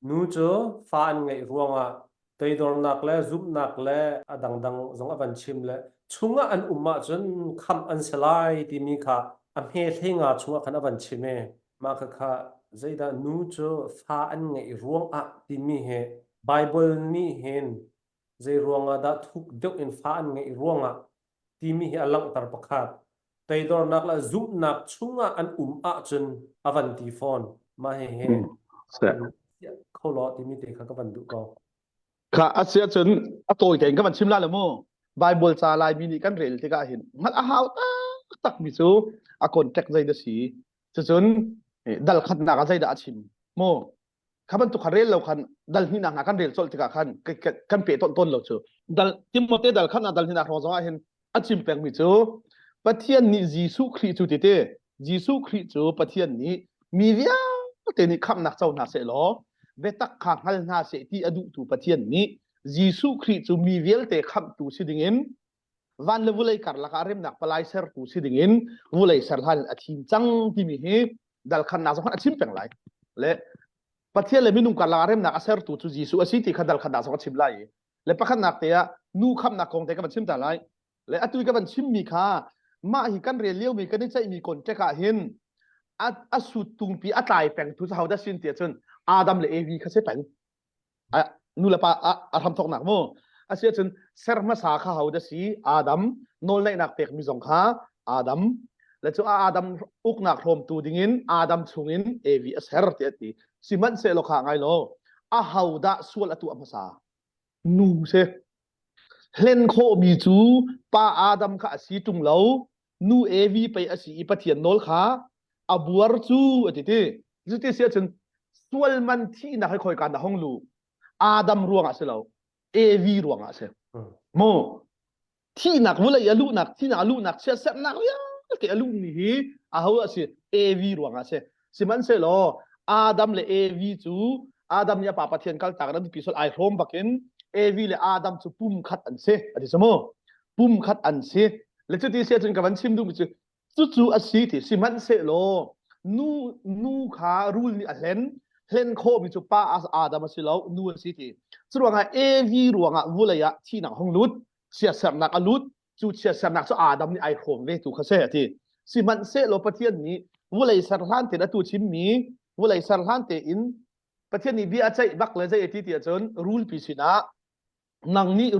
Nu cu fa an ngeih ruangah toidornak le zumhnak le a dangdang zong a van chim le chungah an um ahcun khamh an si lai timi kha a hmehlei nga chungah khan a van chim i mah khakha zeidah nu cu fa an ngeih ruangah timi hi Baibal nih hin zei ruangah dah thuk deuh in fa an ngeih ruangah timi hi a langhter pakhat. Toidornak le zumhnak chungah an um ahcun a van ti fawn. Mah hi hi Hmm. Siah. kan siah kho law timi te kha ka van duh ko. Kha a si ahcun a tawi tein ka van chim la le mu. Bible ca Laimi nih kan rel tikah hin hngalh a hau taktak mi cu a contact zei da si. Cucun eh, dal khatnak ah zei dah a chim. Mu kha bantuk khan rel lo khan dal hninak hna kan rel colh tikah khan kan pe tawn tawn lo cu dal timote dal khan dal hninak hrawng zongah hin a chim pengmi cu pathian nih jesuh khrih cu tete jesuh khrih cu pathian nih mi vialte nih khamnak co hna seh law vetak kha hngal hna seh ti a duhtu pathian nih jesuh khrih cu mi vialte khamtu si dingin van le vulei karlak ah remnak palai sertu si dingin vulei ser hlan in a thim cang timi hi dalkhannak zong a chim peng lai le pathian le minung karlak ah remnak a sertu cu Jesuh a si ti kha dalkhannak zong a chim lai i le pakhatnak te ah nu khamnak kong te ka van chim ta lai le atu i ka van chimmi kha mah hi kan rel liomi kan i ceihmi contact ah hin a sut tungpi a tlai peng tu sa hoda sin tia cun Adam le Evi kha se peng nulepa ah a hramthawknak mu a si ahcun ser hmasa kha ho da si adam nawlneihnak pekmi zong kha adam le cu adam uknak hrawmtu dingin adam chungin evi a ser ti a ti sihmanhsehlaw kha ngai lo a ho dah sual a tuah hmasa nu si hlen khawhmi cu pa adam kha a si ṭung lo nu evi pei a si i pathian nawl kha a buar cu a ti ti cuti si ahcun sual man thihnak hi khoi kan hong lu adam ruangah si lo evi ruangah si mu thihnak vulei a luhnak thihnak a luhnak chiat sernak vialte a luhmi hi a ho a si evi ruangah a si Sihmanhsehlaw Adam le Evi cu Adam nih a pa Pathian kaltak an ti sual ai hlawm bakin Evi le Adam cu pum khat an si a ti samu pum khat an si le cu ti si cun ka van chim duhmi cu cucu a si ti sihmanhsehlaw nu nu kha rul nih a hlen hlen khawhmi cu pa Adam a si lo nu a si ti cu ruangah Evi ruangah vulei ah thihnak hong lut siasernak a lut cu chia sernak cu Adam nih ai hrawm ve tu kha se ati sihmanhsehlaw Pathian nih vulei ser hlan te atu chimmi vulei ser hlan te in Pathian nih bia a ceih bak le zei ati ti ahcun rul pi sinah nang nih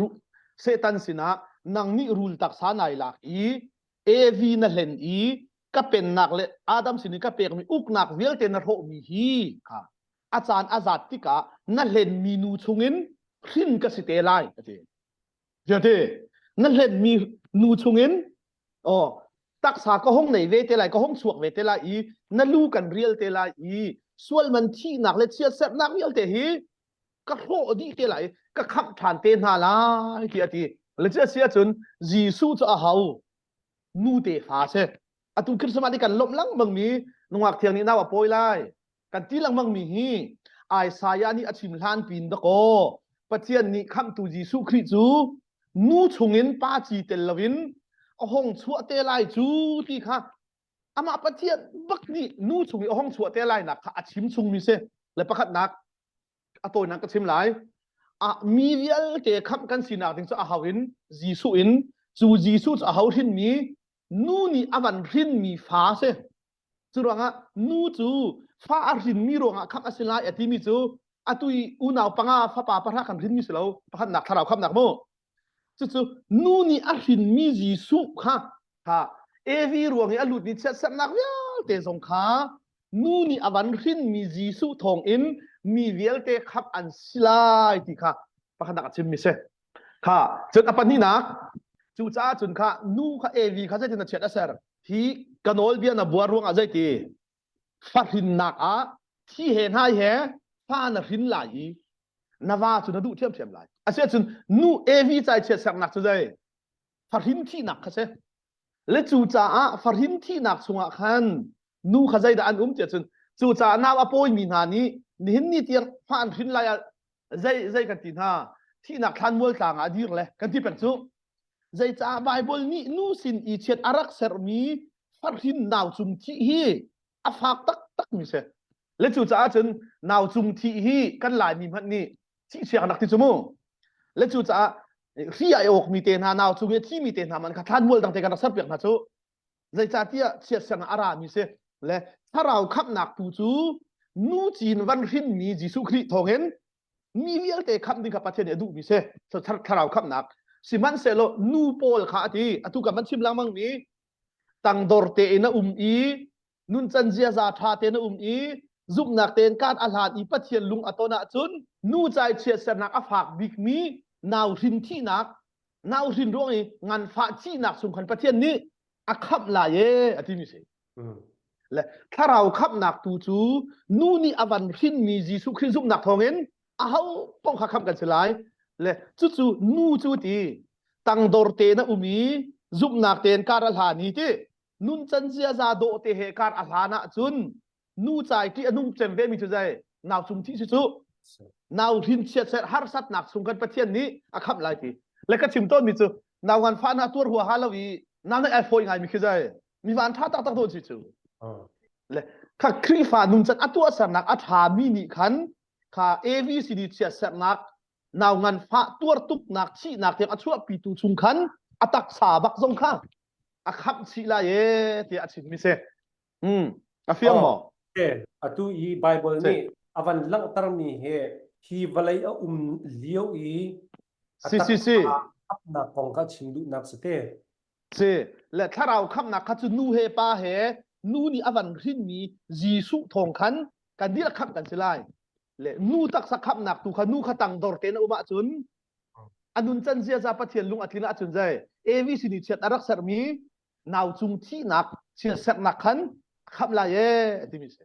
Satan sinah nang nih rul taksa nai lak i Evi na hlen i ka pennak le Adam sin i ka pekmi uknak vialte na hrawhmi hi kha a caan a zat tikah na hlen mi nu chungin hrin ka si te lai ati Ziate, na hlenmi nu chungin aw, taksa ka hong nei ve te lai, ka hong chuak ve te lai i na lu kan rial te lai i sualman thihnak le chiatserhnak vialte hi ka hlawh dih te lai, ka khamh ṭhan te hna lai, tiah a ti. Le cu a si ahcun Jesuh cu a hau. nu tefa si atu Christmas ah kan lomh lengmang mi nungak thiang nih naw a pawi lai kan ti lengmang mi hi Isaiah nih a chim hlan pin da ko Pathian nih khamhtu Jesuh Khrih cu nu chungin pa ci tel loin a hong chuah te lai cu ti kha amah Pathian bak nih nu chung i a hong chuah te lai nak kha a chim chung mi si le pakhatnak a tawinak ka chim lai ah mi vialte khamh kan sinak ding cu a hau in Jesuh in cu Jesuh cu a hau hrin mi nu nih a van hrin mi fa si cu ruangah nu cu fa a hrin mi ruangah khamh a si lai a ti mi cu atui unau panga fapa pahra kan hrin mi si lo pakhatnak thlarau khamnak mu Cucu nu nih a hrinmi Jesuh kha kha Evi ruang i a lut ni chiatserhnak vialte zong kha nu nih a van hrinmi Jesuh thawngin mi vialte khamh an si lai ti kha pakhatnak a chimmi si. Kha cun a pahnihnak cucaah cun kha nu kha Evi kha zeitin a chiat a ser? Hi ka nawlbia na buar ruangah zeiti? fahrinnak ah thi he hnai he fa na hrin lai i na va cu na duh ṭhiamṭhiam lai asiahcun nu evi cai chiat sernak cu zei fahrin thihnak kha si le cu caah fahrin thihnak chungah khan nu kha zeidah an um tiah cun cucaah nau a pawimi hna nih nihin ni tir fa an hrin lai ah zei zei kan ti hna thihnak thlanmual tlang ah dir le kan ti peng cu zeicah Bible nih nu sin i chiat a rak sermi farhrin nau cung thi hi a fak taktak mi si le cu caah cun nau cung thi hi kan laimi hmanh nih thi chia kan rak ti cu mu le cu caah ri ai awk mi te hna nau chung i thi mi te hna man kha thlanmual dang te kan rak ser piak hna cu zeicahtiah chiatserang a rami si le thlarau khamhnak tu cu nu cin van hrinmi Jesuh Khrih thawngin mi vialte khamh ding kha Pathian nih a duhmi si thlarau khamhnak sihmanhsehlaw nu pawl kha a ti atu kan van chim lengmangmi tangdor tein a um i nuncan ziaza ṭha tein a um i zumhnak tein kan a hlan i Pathian lung a ton ahcun nu cai chiatsernak a fak bikmi nau hrin thihnak nauhrin ruang i nganfah chihnak sung khan pathian nih a khamh lai e a timi si le thlarau khamhnak tu cu nu nih a van hrinmi jesuh khrih zumhnak thawngin aho pong kha khamh kan si lai le cucu nu cu ti tangdor te na um i zumhnak tein kar a hla ni ti nun can ziaza dawh te he kar a hlan ah cun nu cai ṭih a nung cem vemi cu zei nau cung thi si cu nau hrin chiat ser harsatnak chung kan pathian nih a khamh lai ti le ka chim tawnmi cu nau ngan fa hna tuar hua ha lo i nau na ai fawi ngai mi khi zai mi van ṭha tak tak tawn si cu le kha khrihfa nuncan a tuah sernak a ṭha mi nih khan kha ABCD chia sernak nau ngan fa tuar tuknak thihnak tiang a chuahpi tu chung khan a taksa bak zong kha a khamh chih lai e tiah a chim mi si Mm. A fiang maw? Okay. Atu i Bible nih a van langhtermi hi hi vawlei a um lio i a si si si khamnak kong kha chim duhnak si te. Si le thlarau khamnak kha cu nu he pa he nu nih a van hrinmi Jesuh thawng khan kan dil kham kan si lai le nu taksa khamnak tu kha nu kha tang dor te na um ahcun anun chan zia za pathian lung atlin ahcun zai avc ni chiat arak sermi nau cung thihnak thil seknak khan a khamh lai ee a timi a si.